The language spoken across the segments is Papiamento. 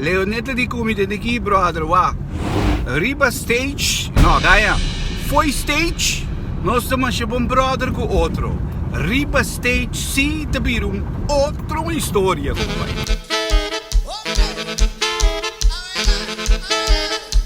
Leoneta di Kumi ta dikí brother wak? Riba stage? No kaya. Fo'i stage nos ta masha bon brother ku otro. Riba stage si ta bira un otro historia kompa.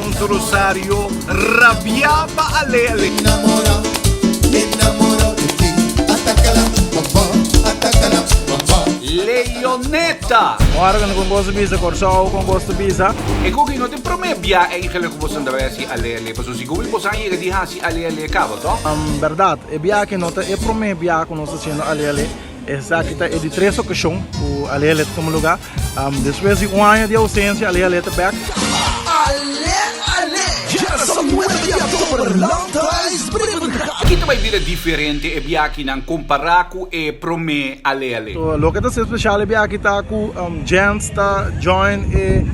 Ons Rosario rabia pa ale ale. Enamora, me enamoro de ti. Ataca la baba, ataca la baba. Leoneta. Ora cu no con boso bisa Corsou con boso bisa. E cu ki no tin prome bia eigenlijk cu boso dra hasi ale ale paso si gumi boso a yega di hasi ale ale caba toh. Berdad, e bia aki no ta e prome bia cu nos ta haciendo ale ale. Esaki ta e di tres okashon ku Alele ta tuma lugá. Despues di un aña di ousensia Ale Ale ta bèk. Ale Ale, Generacion Nuevo di October lanta es breve di mercado. Ki ta bai bira diferente e biakinan kompará ku e promé Ale Ale? Loke ta ser spesial e biaki ta ku Jens ta join e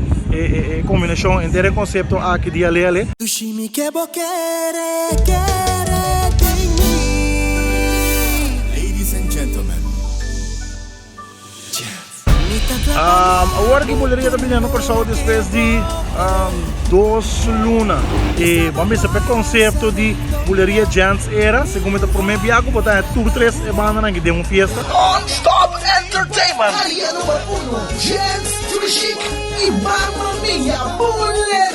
kombinashon enter e konsepto aki di Ale Ale. Y mi ke bo kere kere den mi. Ladies and gentlemen, Jazz. Awor ki Buleria ta bini anu Kòrsou despues di dos luna. E bo mester pa e konsepto di Buleria Jazz Era, segun mi ta promé bia ku bo ta haña tur tres e bandanan aki den un fiesta. Non Stop Entertainment. Área Número Uno Jazz Trichic y Mamma Mia Buleria.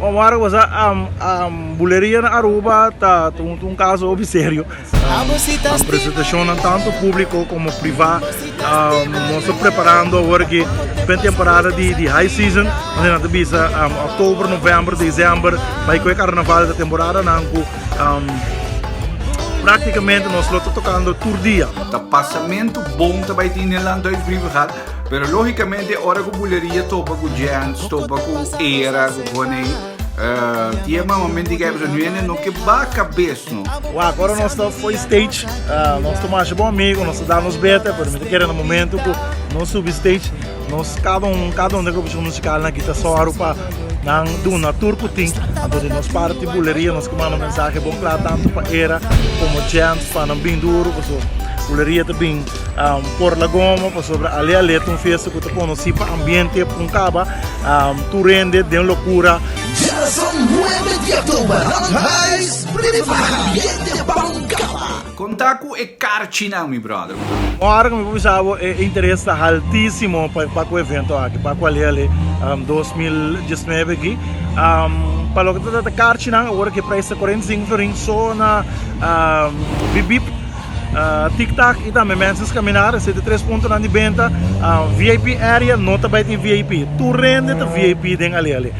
Omar cosa buleria na Aruba ta un caso hopi serio. Nan presentacion nan tanto publico como priva nos ta preparando awor ki pretemporada di high season wende nan ta bisa october, november, december bay cu e carnaval e ta temporada nan cu practicamente nos lo ta tocando tur dia. Ta pasamento bon ta bay tin den Land Duits Brievengaat. Pero lógicamente ora cu bulería topa cu jens, topa cu era, cu coney, uh, tía mamá me diga, pues, nu ene no que ba cabez, no. Wa, agora nós está foi stage, uh, nós está mais bom amigo, nós está nos beta, pero me quer no momento que nós subi stage, nós cada um, cada um da grupo musical na guitarra solo para nan duna tour que tem, então de nós parte buleria, nós que manda mensagem bom claro tanto para era como gente, para não bem duro, porque buleria também Por la goma pasobra ale ale ta un fiesta cu ta conoci pa ambiente pun caba tur hende den locura. Djarazón Nueve di October Run Heist Brinca pa ambiente pun caba. Conta cu e carchinan mi brother. Un ora cu mi por bisa bo e interes ta haltisimo pa cu evento aki pa cu ale ale dos mil diesnuebe aki pa loke ta carchinan awor cu e prijs ta cuarenta y sinku florin so na bip bip tiktak y tambe mensens kaminar esei ta tres puntonan di benta vip area no ta bai tin vip tur rende ta vip den ale ale.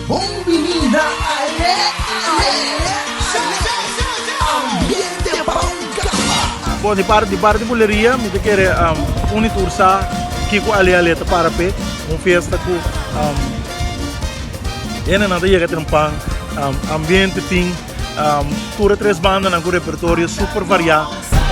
Bon binida ale ale ambiente pa un kaba. Bon di parti di parti buleria mi ta kere uni tur sa kiko ale ale ta para pe un fiesta ku hendenan ta yega trinpan ambiente tin. Um, tur e tres bandanan cu repertorio super variá,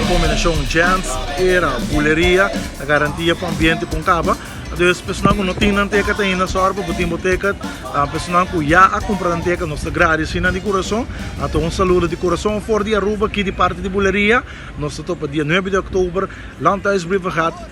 e combinacion jazz, era, buleria, a garantia pa ambiente pon caba. Dus personan cu no tin nan ticket ainda, sorry pa bo tin bo ticket. Uh, personan cu ya a compra nan ticket, nos te gradi si nan di corazon. A to un saludo di corazon for di Aruba, ki di parte di buleria. Nos te topa dia 9 di oktober, Landhuis Brievengaat,